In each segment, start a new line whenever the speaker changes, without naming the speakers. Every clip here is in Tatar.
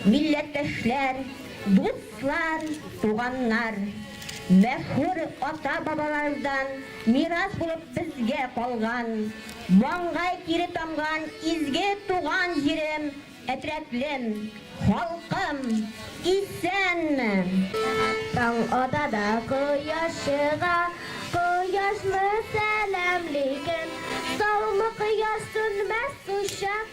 Милләттәшләр, дуслар, туганнар! Мәшһүр ата-бабалардан мирас булып безгә калган, маңгай тире тамган изге туган җирем, әтрәтлем, халкым, исәнме!
Таң ата да кояш чыга, кояшны сәламли кем? Саумы кояш сүнмәс кочак.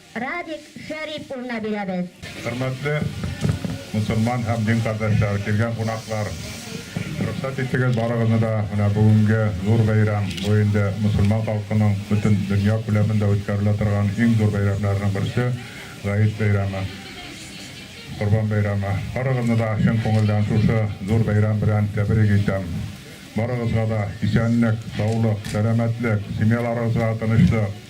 Радик Шәрип улына бирәбез. Хөрмәтле
мөселман һәм дин кардәшләр, килгән кунаклар! Рөхсәт итегез, барыгызны да менә бүгенге зур бәйрәм, бу инде мөселман халкының бөтен дөнья күләмендә үткәрелә торган иң зур бәйрәмнәренең берсе, Гает бәйрәме, Корбан бәйрәме. Барыгызны да чын күңелдән шушы зур бәйрәм белән тәбрик итәм. Барыгызга да исәнлек, саулык, сәламәтлек, семьяларыгызга тынычлык!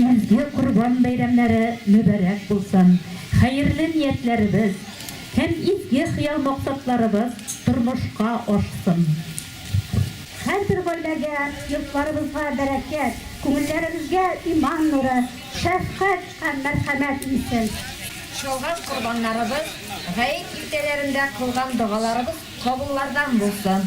Изге Корбан бәйрәмнәре мөбарәк булсын! Хәерле ниятләребез һәм изге хыял-максатларыбыз тормышка ашсын!
Һәрбер гаиләгә, йортларыбызга бәрәкәт, күңелләребезгә иман нуры, шәфкать һәм мәрхәмәт иңсен! Чалган
корбаннарыбыз, гает иртәләрендә кылган догаларыбыз кабуллардан булсын!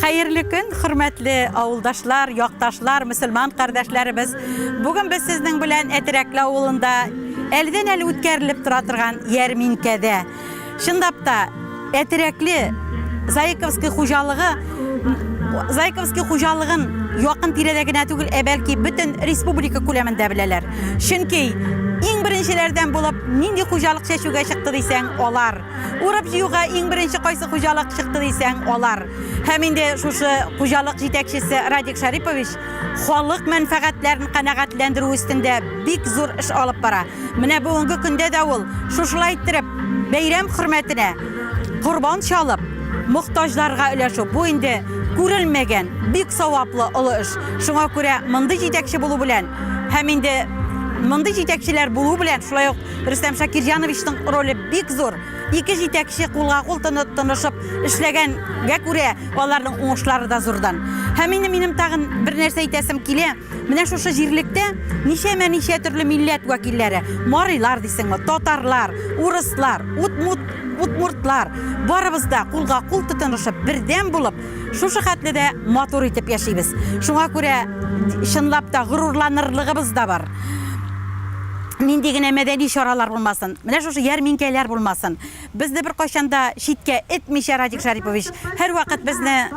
Хәерле көн, хөрмәтле авылдашлар, якташлар, мөселман кардәшләребез. Бүген без сезнең белән Әтерәкле авылында әлдән әле үткәрелеп тора торган ярминкәдә. Чынлап та Әтерәкле Заиковский хуҗалыгы Зайковский хуҗалыгын якын тирәдә генә түгел, ә бәлки бөтен республика күләмендә беләләр. Чөнки иң беренчеләрдән булып нинди хуҗалык чәчүгә чыкты дисәң, алар Урып җыюга иң беренче кайсы хуҗалык чыкты дисәң, алар. Һәм инде шушы хуҗалык җитәкчесе Радик Шарипович халык мәнфәгатьләрен канәгатьләндерү өстендә бик зур эш алып бара. Менә бүгенге көндә дә ул шушылай иттереп бәйрәм хөрмәтенә корбан чалып, мохтаҗларга өләшү бу инде күрелмәгән, бик саваплы олы эш. Шуңа күрә мондый җитәкче булу белән һәм инде мондый җитәкчеләр булу белән шулай ук Рөстәм Шакирҗановичның роле бик зур. Ике җитәкче кулга кул тынып тынышып эшләгәнгә күрә, аларның уңышлары да зурдан. Һәм инде минем тагын бер нәрсә әйтәсем килә. Менә шушы җирлектә ничәмә ничә төрле милләт вәкилләре, марилар дисеңме, татарлар, урыслар, утмут, утмуртлар, барыбыз да кулга кул тотынышып, бердәм булып, Шушы хәтле дә матур итеп яшибез. Шуңа күрә чынлап та горурланырлыгыбыз да бар. Нинди генә мәдәни чаралар булмасын, менә шушы ярминкәләр булмасын. Безне бер кайчанда читкә этмичә Радик Шарипович һәрвакыт безне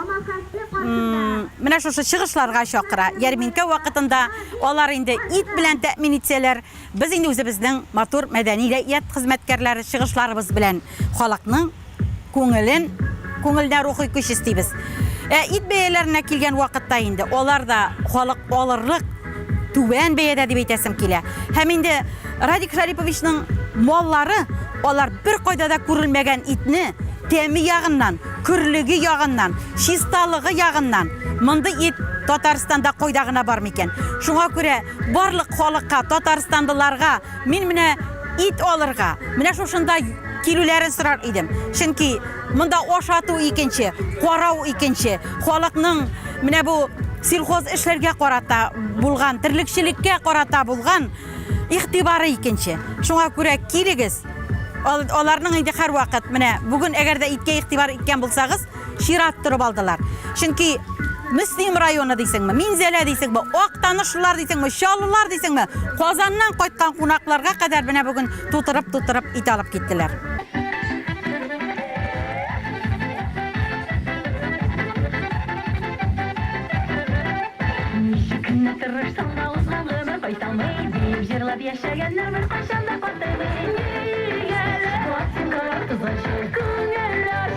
менә шушы чыгышларга чакыра. Ярминкә вакытында алар инде ит белән тәэмин итсәләр, Без инде үзебезнең матур мәдәни дә ият хезмәткәрләре чыгышларыбыз белән халыкның күңелен, күңелдә рухи көч өстибез. Ә ит бәяләренә килгән вакытта инде алар да халык алырлык түбән бәядә дип әйтәсем килә. Һәм инде Радик Шариповичның маллары алар беркайда да күрелмәгән итне тәме ягыннан, көрлеге ягыннан, чисталыгы ягыннан, мондый ит Татарстанда кайда гына бар микән? Шуңа күрә. Барлык халыкка, татарстанлыларга мин менә ит алырга, менә шушында килүләрен сорар идем. Чөнки монда ашату икенче, карау икенче. Халыкның менә бу сельхоз эшләргә карата булган, терлекчелеккә карата булган игътибары икенче. Шуңа күрә килегез, аларның инде һәрвакыт менә бүген әгәр дә иткә игътибар иткән булсагыз, чират торып алдылар. Чөнки Мөслим районы дисеңме, Минзәлә дисеңме, Актанышлылар дисеңме, Чаллылар дисеңме, Казаннан кайткан кунакларга кадәр менә бүген тутырып-тутырып ит алып киттеләр. Ничек кенә тырышсам да узган гомер кайталмый, диеп җырлап яшәгәннәр беркайчан да картаймый. Нигә лә пластинкалар тозачы, күңелләр